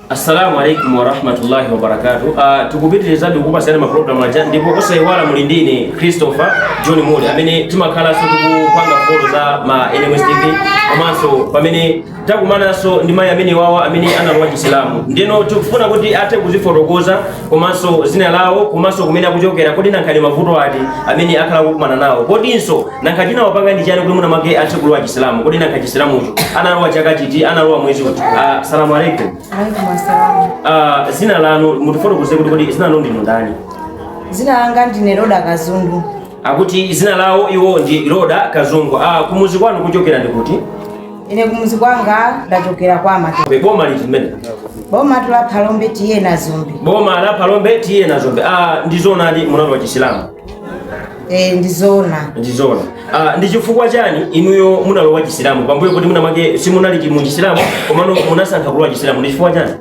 Assalamu alaikum warahmatullahi wabarakatuh. Uh, tikupitirizabe kukupasirani mapulogalamu athu ndipo osaiwala muli ndi ine Christopher John Mule amene timakhalanso tikupanga folo za ma NMS TV komanso pamene takumananso ndi mayi amene wawa amene analowa chisilamu ndeno tikufuna kuti athe kuzifotokoza komanso zina lawo komanso kumene akuchokera kodi nanga ndi mavuto ati amene akhala kukumana nawo kodinso Nanga chinawapanga ndi chani kuti mwina mwake athe kulowa chisilamu. Kodi nanga chisilamucho analowa chaka chiti, analowa mwezi uti. Uh, salamu alaikum. Alaikum asalamu. Uh, ah, zina lanu, mutifotokoze kuti kodi, zina lanu ndinu ndani? Zina langa ndine Roda Kazungu. Akuti zina lawo iwo ndi Roda Kazungu. Uh, ah, kumuzi kwanu kuchokera ndi kuti? Ine kumuzi kwanga ndachokera kwa Matope. Boma liti mbele? Boma ndi la Phalombe TA Nazombe. Boma la Phalombe TA Nazombe. Uh, ndi zoonadi munalowa chisilamu. Eh, ndi zoona ndi zoona ah, ndi chifukwa chani inuyo munalowa chisilamu pambuyo kuti mwina mwake simunali mu chisilamu komano munasankha kulowa chisilamu ndi chifukwa chani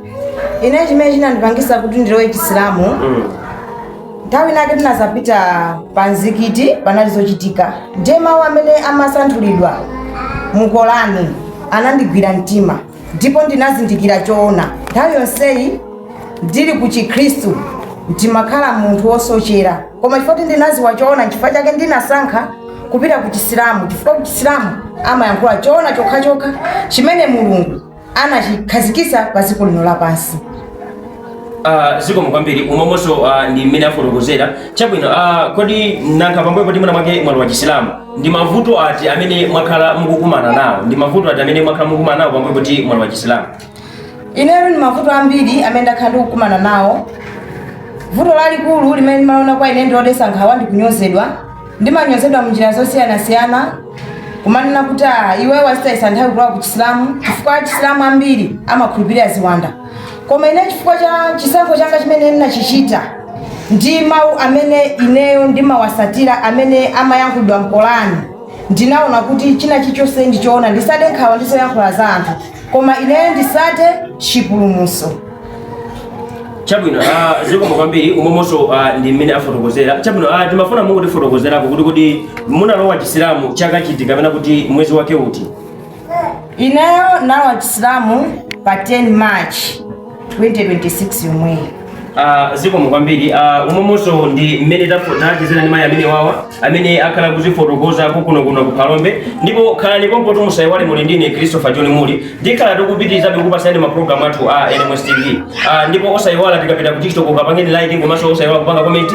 ine chimene chinandipangisa kuti ndilowe chisilamu mm. nthawi inake tinazapita pa mzikiti panali zochitika ndiye mawu amene amasanthulidwa mu kolani anandigwira mtima ndipo ndinazindikira choona. Nthawi yonseyi ndili ku Chikhristu ndimakhala munthu wosochera, koma chifukwa kuti ndinadziwa choona, n'chifukwa chake ndinasankha kupita ku Chisilamu, chifukwa ku Chisilamu amayankhula choona chokhachokha chimene Mulungu anachikhazikitsa pa dziko lino lapansi. Ah, zikomo kwambiri umomonso ah, ndi mmene afotokozera chabwino ah, kodi nanga pambuyo poti mwina mwake mwalowa chisilamu ndi mavuto ati amene mwakhala mukukumana nawo ndi mavuto ati amene mwakhala mukukumana nawo pambuyo poti mwalowa chisilamu ineyo ndi mavuto ambiri amene ndakhala ndikukumana nawo vuto lalikulu limene ndimaona kwa ine ndilodesa nkhawa ndi kunyozedwa ndimanyozedwa munjira zosiyanasiyana kumanena kuti "Ah, iwe wazitayisa nthawi kulowa ku chisilamu chifukwa achisilamu ambiri amakhulupirira ziwanda koma ine chifukwa cha chisankho changa chimene ndinachichita ndi mawu amene ineyo ndimawasatira amene amayankhulidwa mkolani ndinaona kuti china chilichonse ndichoona ndisade nkhawa ndi zoyankhula za anthu koma ineyo ndisate chipulumuso chabwino ah, zikomo kwambiri umomonso ah, ndi mmene afotokozera chabwino ah, timafuna mungotifotokozerako kuti kodi munalowa chisilamu chaka chiti kapena kuti mwezi wake uti Ineyo ndinalowa chisilamu pa 10 March 2026 yomweyi. Uh, zikomo kwambiri ah, umomonso ndi mmene tachezera ndi mayi amene wawa amene akhala kuzifotokoza kukunokuno ku Phalombe ndipo khalani pompo ndipo musayiwale muli ndine Christopher John Muli tikhala tikupitirizabe kukupasani mapulogalamu athu a NMS TV ndipo osayiwala tikapita ku TikTok kapangeni like komanso osayiwala kupanga komenti